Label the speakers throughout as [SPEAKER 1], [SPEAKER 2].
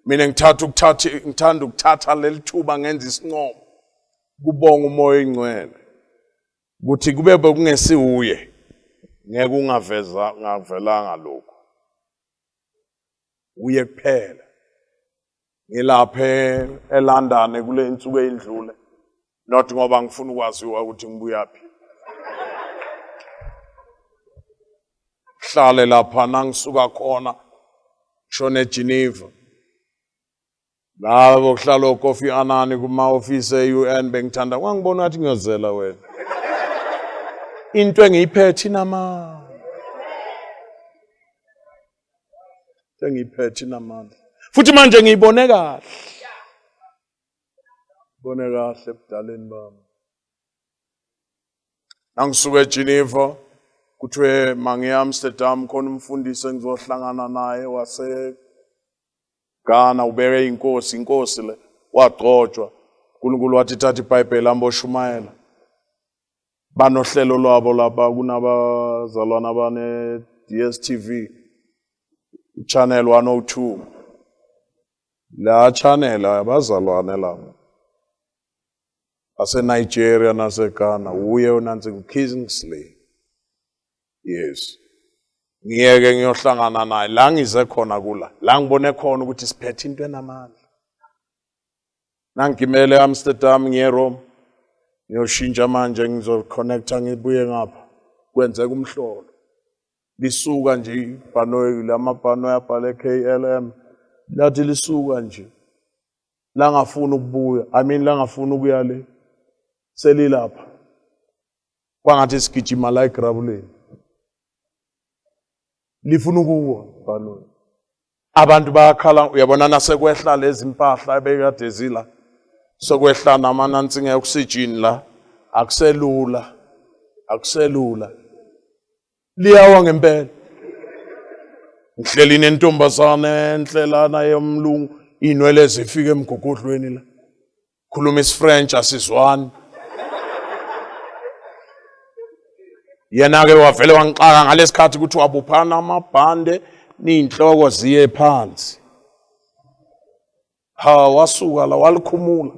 [SPEAKER 1] mina ngithatha ukuthatha ngithanda ukuthatha leli thuba ngenza isincomo kubonga umoya oyingcwele ukuthi kube bekungesiwuye ngeke ungaveza ngavelanga lokho uye kuphela ngilaphe eLondon kule insuku eyindlule not ngoba ngifuna ukwaziwa ukuthi ngibuyaphi hlale lapha nangisuka khona shone Geneva labo kuhlala okofi anani kuma office eUN bengithanda kwangibona ngathi ngiyozela wena into engiyiphethe inamandla engiyiphethe inamandla futhi manje ngiyibone kahle Bone kahle ebudaleni bami. Nangisuka eGeneva kuthiwe mangiya Amsterdam khona umfundisi engizohlangana naye wase Ghana ubeke inkosi inkosi le wagcotshwa uNkulunkulu wathi thatha iBhayibheli amboshumayela banohlelo lwabo lapha kunabazalwana bane DSTV channel 102 La channel abazalwane laba aseNigeria naseGhana wuye onansi uKingsley yes ngiyeke ngiyohlangana naye la ngize khona kula la ngibone khona ukuthi siphethe into enamandla nangigimele eAmsterdam ngiye eRome ngiyoshintsha manje ngizoconnecta ngibuye ngapha kwenzeka umhlolo Lisuka nje ibhanoyi lamabhanoyi abhale KLM lathi lisuka nje langafuna ukubuya I mean langafuna ukuya le selilapha kwangathi sigijima la egrabuleni lifuna ukuwa ibhanoyi abantu bayakhala uyabona nasekwehla lezi mpahla ebekade zila sokwehla namanansinga oxygen la akuselula akuselula liyawa ngempela ngihleli nentombazane enhle lana yomlungu inwele zifike emgogodlweni la khuluma isifrench asizwani yena-ke wavele wangixaka ngalesikhathi ukuthi wabuphana amabhande niyinhloko ziye phansi ha wasuka la walikhumula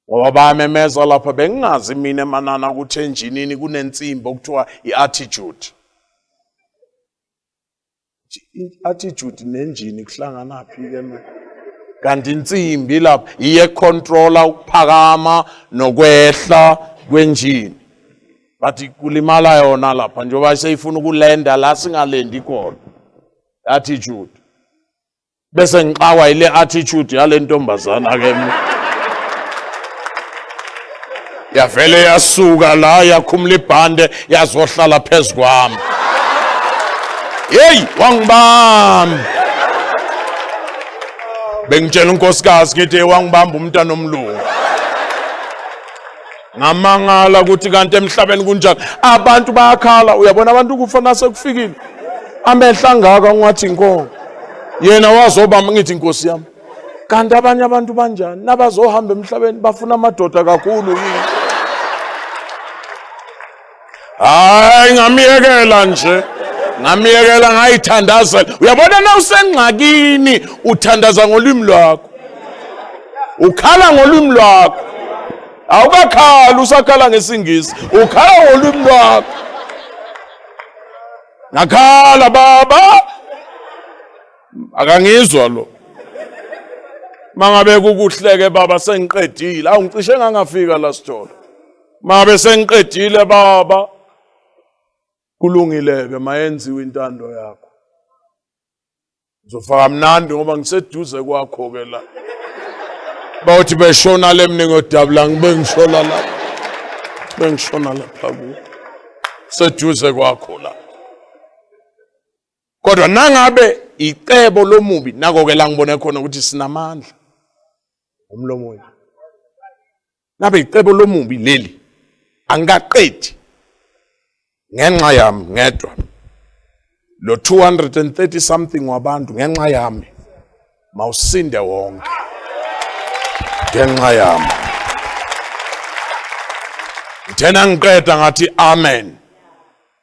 [SPEAKER 1] ngoba bayamemeza lapha bengingazi mina emanana ukuthi enjinini kunensimbi okuthiwa i-attitude i-attitude nenjini kuhlanganaphi ke manje kanti insimbi lapha iye controller ukuphakama nokwehla kwenjini but kulimala yona lapha njengoba seyifuna ukulenda la singalendi khona attitude bese ngixawa ile attitude yale ntombazana ke yavele yasuka la yakhumula ibhande yazohlala phezu kwami yeyi wangibamba bengitshela unkosikazi ngithi wangibamba umntana omlungu ngamangala ukuthi kanti emhlabeni kunjani abantu bayakhala uyabona abantu kufa nasekufikile amehla angaka ungathi inkongo yena wazoba ngithi inkosi yami kanti abanye abantu banjani nabazohamba emhlabeni bafuna amadoda kakhulu yini hayi ngamyekela nje ngamyekela ngayithandazela uyabona na usengxakini uthandaza ngolwimi lwakho ukhala ngolwimi lwakho awukakhali usakhala ngesingisi ukhala ngolwimi lwakho ngakhala baba akangizwa lo mangabe kukuhleke baba sengiqedile awungicishe ngangafika la sitolo Mabe sengiqedile baba. Kulungileke mayenziwe intando yakho. Ngizofaka mnandi ngoba ngiseduze kwakho ke la. Bawuthi beshona lemni ngodabula ngibe ngishona la. Bengishona lapha ku. Seduze kwakho la. Kodwa nangabe icebo lomubi nako ke la ngibone khona ukuthi sinamandla. Umlomo wethu. Ngabe icebo lomubi leli angikaqedi ngenxa yami ngedwa lo 230 something wabantu ngenxa yami mawusinde wonke ngenxa yami ngithena ngiqeda ngathi amen